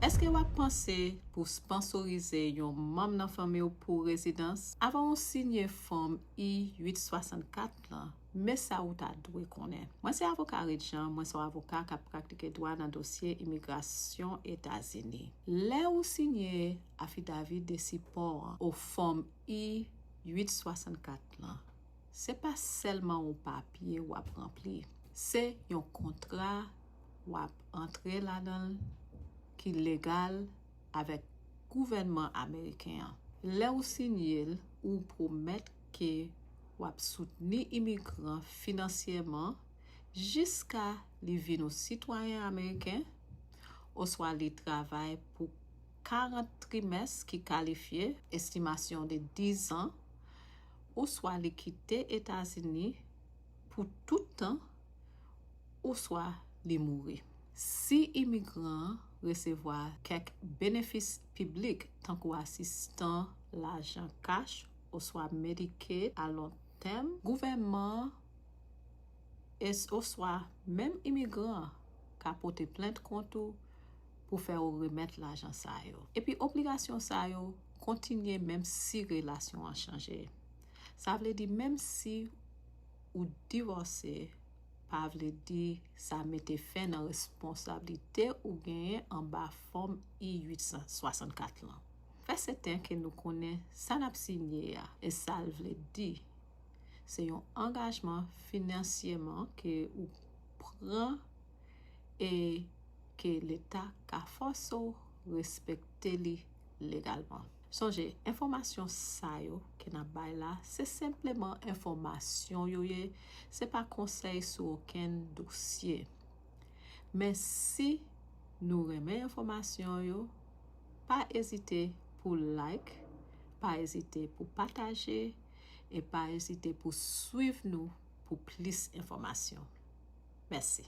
Èske w ap panse pou w sponsorize yon manm nan fanmi w pou rezidans? Avan ou siyen Fòm I-864 lan, men sa ou ta dwe konnen. Mwen se avoka Reed Jean, mwen se yon avoka k ap pratike dwa nan dosye imigrasyon Etazini. Lè ou siyen Afidavi de Sipò an, ou Fòm I-864 lan, se pa sèlman yon papye w ap ranpli, se yon kontra Wap antre ladan l ki legal avèk gouvènman ameriken an. Lè ou sinye l ou pwomèt ke wap soutni imigran finansyèman jiska li vin ou sitwayen ameriken oswa li travay pou 40 trimès ki kalifye, estimasyon de 10 zan, oswa li kite Etazini pou tout tan ouswa li mouri. Si imigran an resevwa kèk benefis piblik tankou asistan lajan kach oswa Medicaid a lon tèm, gouvènman an oswa menm imigran an ka pote plent kont ou pou fè ou remèt lajan sa yo. Epi obligasyon sa yo kontinye menmsi relasyon an chanje. Sa vle di menmsi. Ou divòse pa vle di sa mete fen nan responsablite ou genyen anba Fòm I-864 lan. Fè sèten ke nou konnen sa n ap sinye a e sa l vle di. Se yon angajman finansyeman ke ou pran e ke Leta ka fòse w respekte li legalman. Sonje, enfòmasyon sa yo ke n ap bay la, se senpleman enfòmasyon yo ye, se pa konsèy sou okenn dosye. Men si nou renmen enfòmasyon yo, pa ezite pou like, pa ezite pou pataje, e pa ezite pou swiv nou pou plis enfòmasyon. Mèsi.